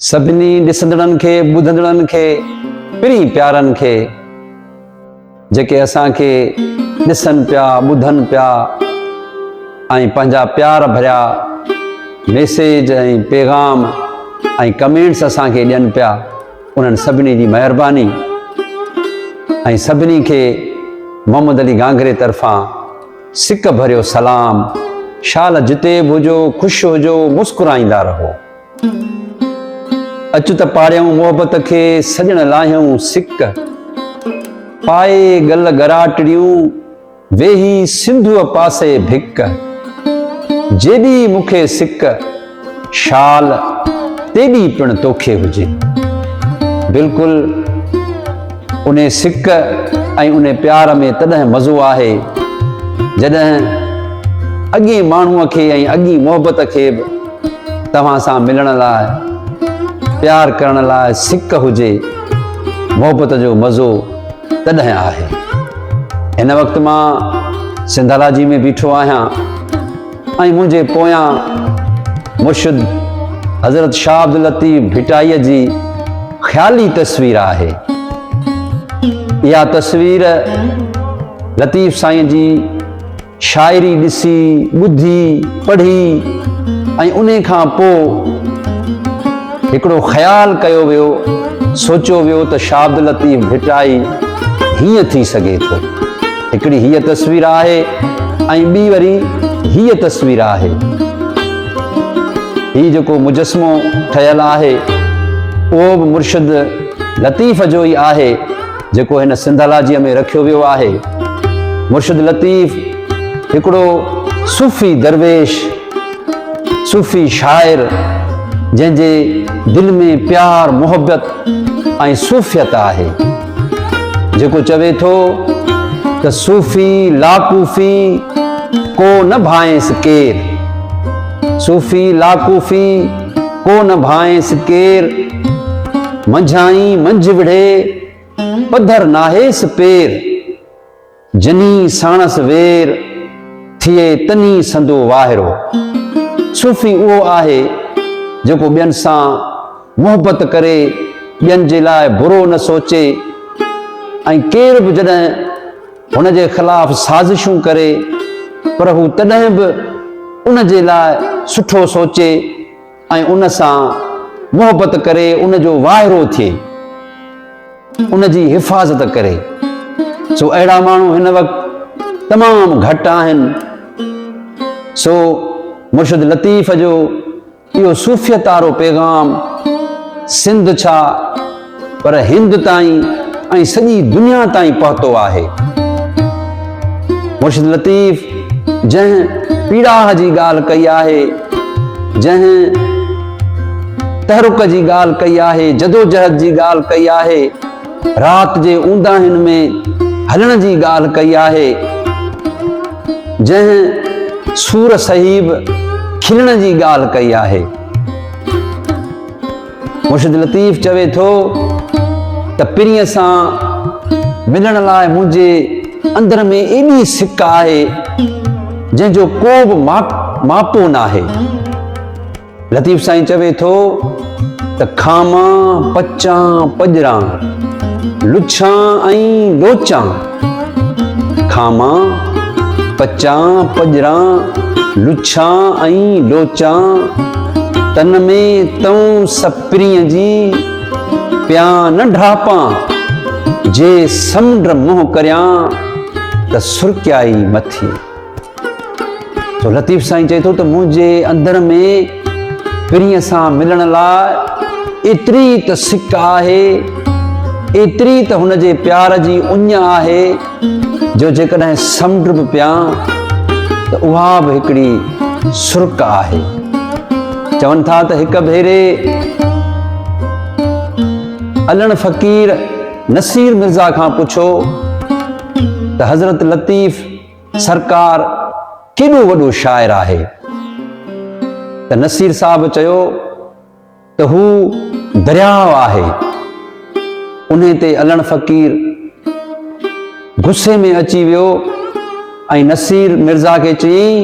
سڀني ڏسندڙن کي، ٻڌندڙن کي، پرين پيارن کي جيڪي اسان کي ڏسن پيا، ٻڌن پيا ۽ پنهنجا پيار ڀريا ميسيج ۽ پيغام ۽ ڪمينٽس اسان کي ڏين پيا انهن سڀني جي مهرباني ۽ سڀني کي محمد علي گانگري طرفان سڪ ڀريو سلام شال جتي به هجو خوش هجو مسڪرائيندا رهو. اچ ته پاڙيائون محبت کي، سڄڻ لاهيائون سڪ. پائي ڳل ڳراٽڙيون، ويهي سنڌوء پاسي ڀڪ. جيڏي مون کي سڪ، شال، تيڏي پڻ توکي هجي. بلڪل انهي سڪ ۽ انهي پيار ۾ تڏهن مزو آهي، جڏهن اڳئين ماڻهوء کي ۽ اڳئين محبت کي به توهان سان ملڻ لاء پيار ڪرڻ لاء سڪ هجي محبت جو مزو تڏهن آهي هن وقت مان سنڌالاجي ۾ بيٺو آهيان ۽ منهنجي پويان مرشد حضرت شاهه عبدالطيف ڀٽائيء جي خيالي تصوير آهي اها تصوير لطيف سائين جي شاعري ڏسي، ٻڌي، پڙهي ۽ انهي کان پوء هڪڙو خيال ڪيو ويو، سوچيو ويو ته شاهه عبداللطيف ڀٽائي هيئن ٿي سگهي ٿو. هڪڙي هيء تصوير آهي ۽ ٻي وري هيء تصوير آهي. هي جيڪو مجسمو ٺهيل آهي، اهو به مرشد لطيف جو ئي آهي. جيڪو هن سنڌالاجيء ۾ رکيو ويو آهي. مرشد لطيف هڪڙو صوفي درويش، صوفي شاعر، جنهن جي دل ۾ پيار، محبت ۽ صوفيت آهي، جيڪو چوي ٿو ته صوفي لاڪوفي ڪو نه ڀانئيس ڪير، صوفي لاڪوفي، ڪو نه ڀانئيس ڪير، منجهائين منجهه وڙهي، پڌر ناهيس پير، جنين ساڻس وير، ٿئي تنين سندو واهرو. صوفي اهو آهي جيڪو ٻين سان محبت ڪري، ٻين جي لاء برو نه سوچي ۽ ڪير به جڏهن. هن جي خلاف سازشون ڪري پر هو تڏهن به ان جي لاء سٺو سوچي ۽ ان سان محبت ڪري ان جو واهرو ٿئي ان جي حفاظت ڪري سو اهڙا ماڻهو هن وقت تمام گهٽ آهن سو مرشد لطيف جو اهو صوفيت وارو پيغام سنڌ ڇا پر هند تائين ۽ سڄي دنيا تائين پهتو آهي. مرشد لطيف جنهن پيڙاهه جي ڳالهه ڪئي آهي، جنهن تحرڪ جي ڳالهه ڪئي آهي، جدوجهد جي ڳالهه ڪئي آهي، رات جي اونداهين ۾ هلڻ جي ڳالهه ڪئي آهي، جنهن سور صحيب کلڻ جي ڳالهه ڪئي آهي. مرشد لطيف چوي ٿو ته پرينء سان ملڻ لاء منهنجي اندر ۾ ايڏي سڪ آهي، جنهن جو ڪو به ماپو ناهي. لطيف سائين چوي ٿو ته کامان پچان پڄران لڇان ۽ لوچان کامان پچان پڄران لڇان ۽ لوچان تن ۾ تون سپريء جي پيان نه ڍاپان جي سمنڊ منهن ڪريان ته سرڪيائي مٿي تو لطيف سائين چئي ٿو ته منهنجي اندر ۾ پرينء سان ملڻ لاء ايتري ته سڪ آهي ايتري ته هن جي پيار جي اڃ آهي جو جيڪڏهن سمنڊ به پيان ته اها به هڪڙي سرڪ آهي چون ٿا ته هڪ ڀيري علڻ فقير نصير مرزا کان پڇو ته حضرت لطيف سرڪار ڪيڏو وڏو شاعر آهي ته نصير صاحب چيو ته هو درياهه آهي انهي تي علڻ فقير غصي ۾ اچي ويو ۽ نصير مرزا کي چيائين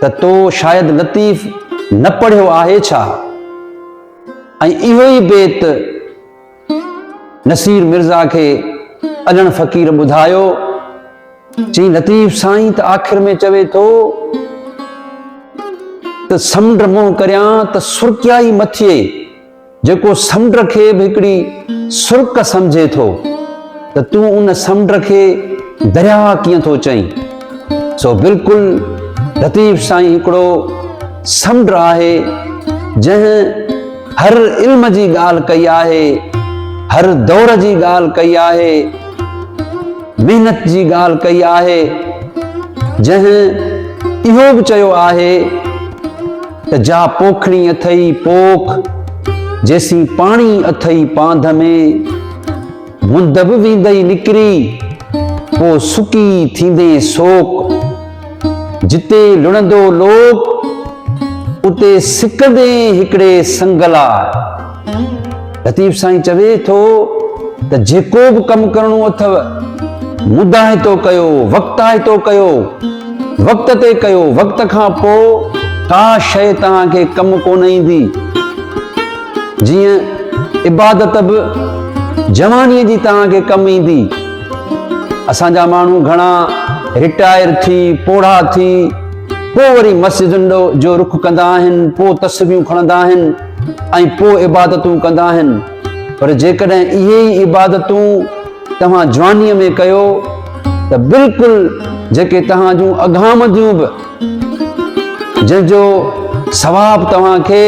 ته تو شايد لطيف نه پڙهيو آهي ڇا ۽ اهو ئي بيت نصير مرزا کي اڏڻ فقير ٻڌايو. چيائين لطيف سائين ته آخر ۾ چوي ٿو ته سمنڊ منهن ڪريان ته سرڪيا ئي مٿئي، جيڪو سمنڊ کي به هڪڙي سرڪ سمجهي ٿو ته تون ان سمنڊ کي درياهه ڪيئن ٿو چئين؟ سو بلڪل لطيف سائين هڪڙو سمنڊ آهي جنهن هر علم جي ڳالهه ڪئي آهي، هر دور جي ڳالهه ڪئي آهي، محنت جي ڳالهه ڪئي آهي، جنهن اهو به چيو آهي ته جا پوکڻي اٿئي پوک، جيسين پاڻي اٿئي پانڌ ۾. گند به ويندئي نڪري، پوء سڪي ٿيندين سوڪ. جتي لڻندو لوڪ، اتي سڪندين هڪڙي سنگ لاء. لطيف سائين چوي ٿو ته جيڪو به ڪم ڪرڻو اٿئو، مداهتو ڪيو، وقتاهتو ڪيو، وقت تي ڪيو، وقت کان پوء ڪا شيء توهان کي ڪم ڪونه ايندي. جيئن عبادت به جوانيء جي توهان کي ڪم ايندي. اسان جا ماڻهو گهڻا رٽائر ٿي، پوڙها ٿي، پوء وري مسجدن ڏو جو رخ ڪندا آهن، پوء تسبيحون کڻندا آهن ۽ پوء عبادتون ڪندا آهن. پر جيڪڏهن اهي ئي عبادتون، توهان جوانيء ۾ ڪيو ته بلڪل جيڪي توهان جون اگهامنديون به جنهن جو ثواب توهان کي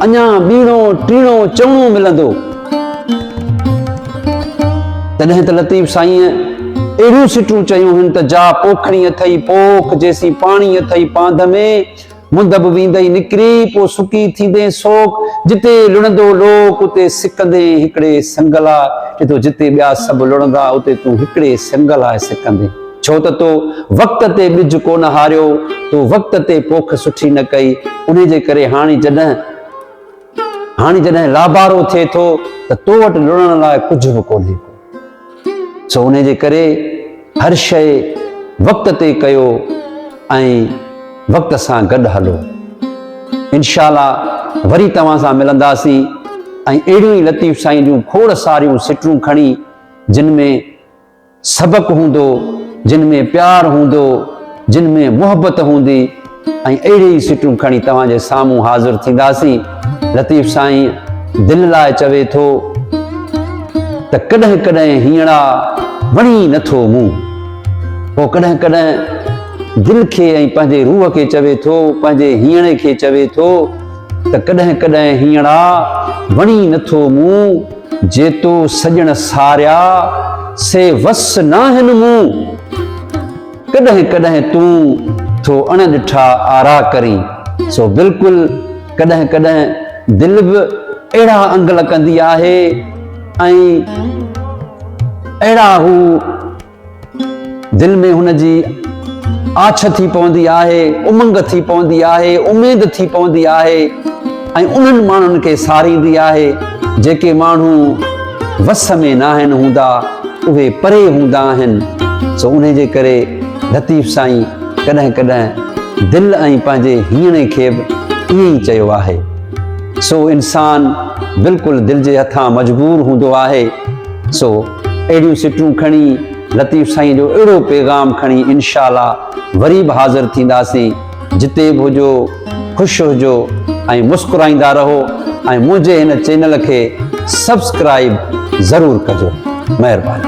اڃا ٻيڻو ٽيڻو چوڻو ملندو تڏهن ته لطيف سائين اهڙيون سٽون چيون هن ته جا پوکڻي اٿئي پوک جيسين پاڻي اٿئي پانڌ ۾ مند به ويندئي نڪري، پوء سڪي ٿيندين سوڪ، جتي لڙندو لوڪ، اتي سڪندين هڪڙي سنگ لاء، چي ٿو جتي ٻيا سڀ لڙندا، اتي تون هڪڙي سنگ لاء سڪندين، ڇو ته تو وقت تي ٻج ڪونه هاريو، تو وقت تي پوک سٺي نه ڪئي، انهي جي ڪري هاڻي جڏهن هاڻي جڏهن لابارو ٿئي ٿو ته تو وٽ لڙڻ لاء ڪجهه به ڪونهي ڪو. سو انهي جي ڪري هر شيء وقت تي ڪيو ۽ وقت سان گڏ هلو. انشاء الله وري توهان سان ملنداسين ۽ اهڙيون ئي لطيف سائين جون کوڙ ساريون سٽون کڻي جن ۾ سبق هوندو، جن ۾ پيار هوندو، جن ۾ محبت هوندي. ۽ اهڙي ئي سٽون کڻي توهان جي سامهون حاضر ٿينداسين. لطيف سائين دل لاء چوي ٿو ته ڪڏهن ڪڏهن هينئڙا وڻي ئي نٿو مون. پوء ڪڏهن ڪڏهن دل کي ۽ پنهنجي روح کي چوي ٿو، پنهنجي هينئڙي کي چوي ٿو ته ڪڏهن ڪڏهن هينئڙا وڻي ئي نٿو مون، جيتو سڄڻ ساريا سي وس ناهن مون. ڪڏهن ڪڏهن تون ٿو اڻ ڏٺا آرا ڪرين سو بلڪل ڪڏهن ڪڏهن دل به اهڙا انگل ڪندي آهي ۽ اهڙا هو دل ۾ هن جي آڇ ٿي پوندي آهي امنگ ٿي پوندي آهي اميد ٿي پوندي آهي ۽ انهن ماڻهن کي ساريندي آهي جيڪي ماڻهو وس ۾ ناهن هوندا اهي پري هوندا آهن سو انهي جي ڪري لطيف سائين ڪڏهن ڪڏهن دل ۽ پنهنجي هيڻي کي به ائين ئي چيو آهي سو انسان بلڪل دل جي هٿان مجبور هوندو آهي سو اهڙيون سٽون کڻي لطيف سائين جو اهڙو پيغام کڻي انشاء الله وري به حاضر ٿينداسين. جتي به هجو خوش هجو ۽ مسڪرائيندا رهو ۽ منهنجي هن چينل کي سبسڪرائيب ضرور ڪجو مهرباني.